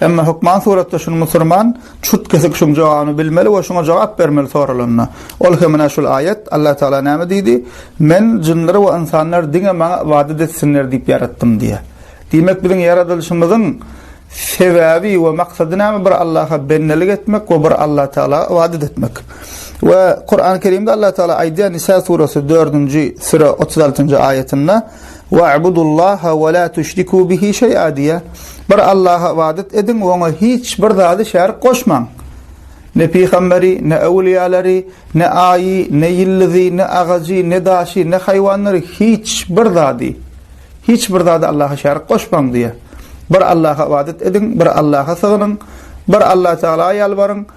Emma hökman suratda şuny musurman çürt-kesik şuň jogabyny bilmeli we şuňa jogap bermeli soralanda. Ol hem ene şul aýat, Allah Tagala näme diýdi, Men jynlary we ynsanlary diňe Maňa ybadat etsinler diýip ýaratdym diýýär. Diýmek biziň ýaradylyşymyzyň sebäbi we maksady näme bir Allaha bendelik etmek we bir Allah Tagala ybadat etmek. We Kurany Kerimde Allah Tagala aýdýar Nisa surasy dördünji süre otuz altynjy aýatynda, Wa'budullaha we la tüşrikû bihi şeý'a diýýär. Bir Allaha ybadat ediň we oňa hiç bir zady şärik goşmaň. Ne pygamberi, ne öwlüýälary, ne aýy, ne ýyldyzy, ne agajy, ne daşy, ne haýwanlary, hiç bir zady, hiç bir zady Allaha şärik goşmaň diýýär. Bir Allaha ybadat ediň, bir Allaha sygynyň, bir Allatagala ýalbaryň.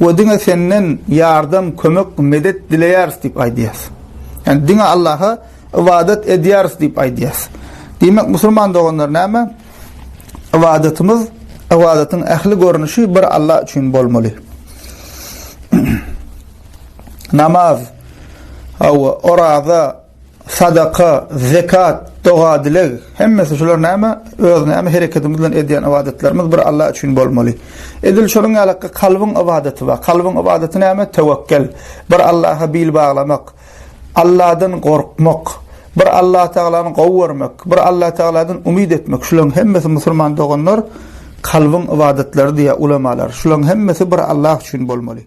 We diňe Senden ýardam, kömek, medet dileýäris diýip aýdýarys. Ýagny diňe Allaha ybadat edýäris diýip aýdýarys. Diýmek, musulman doganlar näme? Ybadatymyz, ybadatyň ähli görnüşi bir Allah üçin bolmaly. Namaz, oraza, Sadaka, zekat, doga-dileg, hemmesi şular näme? Öz näme hereketimiz bilen edýän ybadatlarymyz bir Allah üçin bolmaly. Edil şonuň ýaly kalbyň ybadaty bar. Kalbyň ybadaty näme? Tewekkel, bir Allaha bil baglamak, Allahdan gorkmak, bir Allah Tagalany gowy görmek, bir Allah Tagaladan umyt etmek. Şularyň hemmesi musulman doganlar kalbyň ybadatlary diýýär ulamalar. Şularyň hemmesi bir Allah üçin bolmaly.